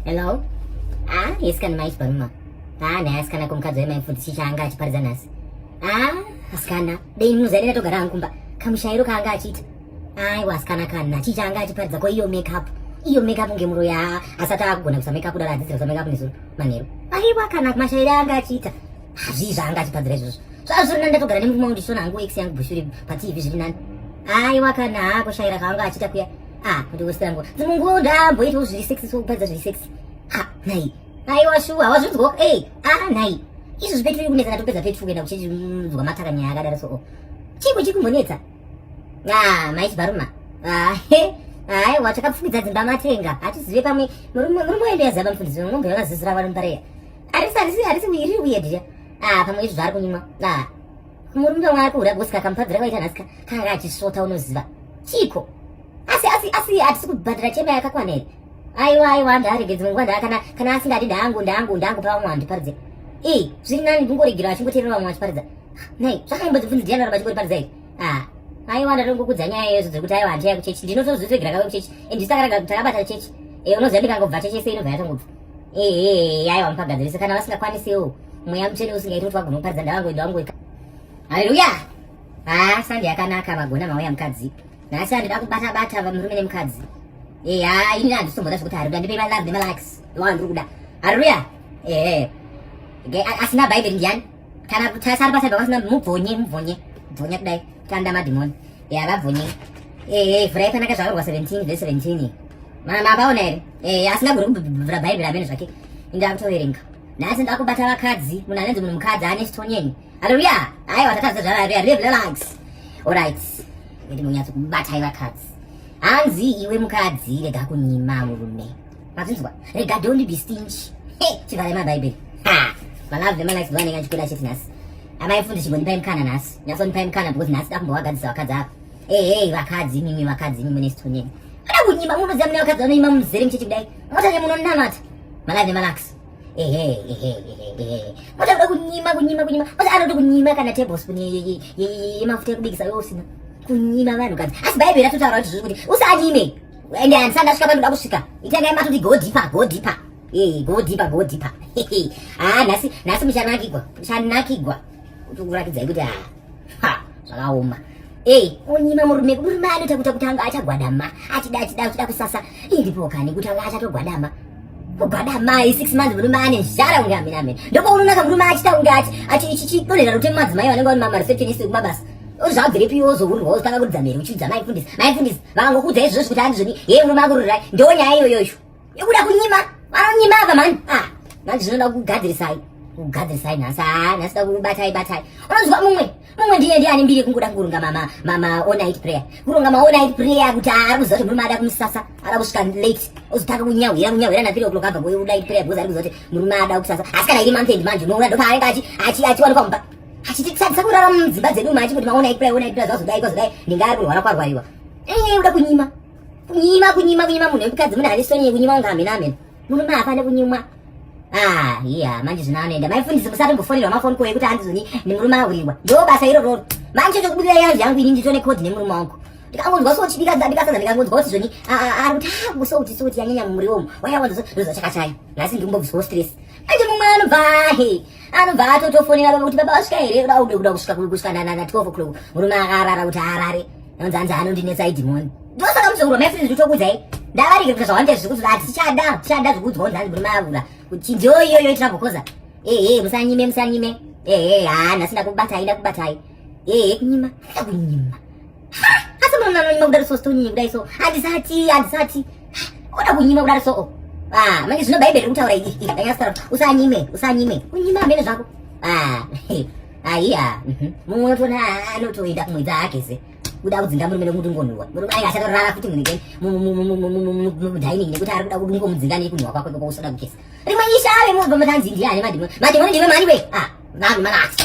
Hello? Ah, yes kana maichi paruma. Ah, naye asikana kumukadzi wemai mfundisi chaanga achiparidza nhasi. Ah, asikana, dei muzairira togara hangu kumba. Kamushairo kaanga achiita. Aiwa asikana kana chii chaanga achiparidza ko iyo make up. Iyo make up ngemuro ya asati akugona kusa make up kudara adzidzira kusa make up nezuro manheru. Aiwa kana mashairo anga achiita. Hazvii zvaanga achipadzira izvozvo. Zvazvo rina ndatogara nemurume wangu ndichiona hangu ex yangu bushuri pa TV zviri nani. Aiwa kana kushaira kaanga achiita kuya. ah kuti wese yangu dzimwe nguva ndaamboitawo zviri sexy so kupedza zviri sexy ah nhai aiwa shuwa hawazvinzwawo ei ah nhai izvo zvipetiri kunetsana topedza petiri kuenda kuchinzwa mataka nyaya akadaro so oh. chiiko chiri kumbonetsa ah maiti baruma ah he aiwa takapfumidza dzimba matenga hatizive pamwe murume wendo yazaba mufundisi wemombe vakazizira vanombareya arisi arisi arisi wiri wiyedya ah pamwe izvo zvaari kunyimwa ah Murume wako uri agosika kamupadzira kwaita nhasi ka kanga achisvota unoziva. Chiko. Asi asi asi hatisi kubhadhara chema yakakwana here? Aiwa aiwa ndaregedze dzimwe nguva ndakana kana asingadi ndangu ndangu ndangu pavamwe vanhu ndiparidze. Eh, zviri nani ndingoregerwa achingoteerera vamwe vachiparidza. Nei, zvakanyimbo dzibvunzi ndiani varamba chingoriparidza here? Ah, aiwa ndatongokudza nyaya yezo dziri kuti aiwa handichaya kuchechi ndinotozoregera kave kuchechi and ndisakaraga kuti takabata chechi e eh, unoziva ndikangobva chechi yese inobva yatongobva ehe aiwa mupagadzirise kana vasingakwanisiwo mweya mutsvene usingaiti kuti vagona kuparidza ndavangoenda vangoika haleluya ha sande yakanaka magona mauya mukadzi nhasi andida kubata bata murume nemukadzi eha ini handisomboda zvekuti hariuda ndipe malove nemalikes ndowandiri kuda haleluya ehe asina bhaibheri ndiani kana kutasa ari pasaiba kwasina mubvonye mubvonye bvonye kudai tanda madhimoni ya vabvonye ehe vhura yakanaka zvakarwa 17 ve 17 mabaona here ehe asi ndagori kubvura bhaibheri amene zvake indakutoverenga nhasi ndakubata vakadzi munhu anenzi munhu mukadzi ane chitonyenyi haleluya aiwa tatadza zvararia live relax orit ndimonyatso kubatai vakadzi hanzi iwe mukadzi rega kunyima murume mazvinzwa rega don't be stingy hey chivhare mabhaibheri ha malove vemalikes vanenge achikuda chiti nhasi amai fundi chimbondipai mukana nhasi nyatsondipai mukana because nhasi dakumbowagadzisa vakadzi ava ehei vakadzi imimi vakadzi imimi mune situnyeni ada kunyima munoziva mune vakadzi vanoima muzere muchechi kudai motane munonamata malove vemalikes motauda kunyima kunyima kunyima ose anoti kunyima kana tablespoon yemafuta yekubikisa yousina kunyima vanhu kadzi asi bhaibheri ratotaura kuti zviri kuti usanyime ende handisati ndasvika pandoda kusvika itangai matoti go deeper go deeper ee go deeper go deeper haa nhasi nhasi muchanakigwa muchanakigwa kuti kurakidzai kuti haa ha zvakaoma ei onyima murume murume anoita kuita kuti anga achagwadama achida achida achida kusasa indipokani kuti anga achatogwadama kugwadamai six months murume ane zhara kunge amene amene ndopaunoona kamurume achita kunge achi achi chichidonhera rute mumadzimai vanenge vane mamareceptionist kumabasa uzvabvirepi iwe uzohurirwa wozotanga kuridza mhere uchiudza maifundisi maifundisi vakangokuudza izvozvo kuti andizvoni hee unomakururai ndo nyaya iyoyoyo ikuda kunyima vanonyima ava mani a ah, manje zvinoda kugadzirisai kugadzirisai nhasi haa ah, nhasi da kubatai batai unoziva mumwe mumwe ndiye ndiye ane mbiri yekungoda kuronga maonit prayer kuronga maonit prayer kuti ah, ari kuziva kuti murume ada kumusasa ada kusvika late ozotanga kunyahwira kunyahwira na three o'clock abva kuonit prayer because ari kuziva kuti murume ada kusasa asi kana iri month end manje unoona ndopaanenge achiwanikwa mumba achititadzisa kurara mudzimba dzedu umu achingoti maona ikura iona ikura zvazodai kwazodai ndinga ari kurwara kwarwariwa ee uda kunyima kunyima kunyima kunyima munhu wekukadzi mune ane soni yekunyima unga hamena hamena murume haafane kunyimwa ah iya manje zvino anoenda maifundisi musatombofonerwa mafoni koye kuti handizoni nemurume ahuriwa ndo basa irororo manje chokubudira yanzi yangu ini nditone code nemurume wangu ndikangonzwa so chibika ndabika sadza ndikangonzwa kuti zvoni ari kuti ha ah, kusouti souti yanyanya mumuriwo umu waya wanzwa so ndoza chakachaya nhasi ndiri kumbobviswa stress Aje mumwe anobva ahe anobva atotofonera baba kuti baba vasvika here kuda ude kuda kusvika kusvika na 12 o'clock murume akarara kuti arare anonzi hanzi anondinetsa idhimoni ndosaka muzokurwa mai friends zvitokudzai ndavarike kuti zvawanda zviri kuti ati tichada tichada zvikudzwa kunzi hanzi murume avura kuti ndiyo iyoyo itira bokoza ehe musanyime musanyime ehe haa nhasi ndakubatai ndakubatai ehe kunyima kunyima Asi mama mama kudari so stone kudai so handisati handisati oda kunyima kudari so oh. ah manje zvino bhaibheri kutaura iri iri ndanyasara usanyime usanyime kunyima amene zvako ah aiya mhm. mumwe unotona anotoenda kumwe dzake ze kuda kudzinga murume nekuti ngonhuwa murume ayi achatorara futi munike mudining nekuti ari kuda kuti ngomudzinga nekunhuwa kwako ikoko usoda kugeza rimwe isha ave mubva matanzi ndiani madimoni madimoni ndiwe mani we ah vanhu manasi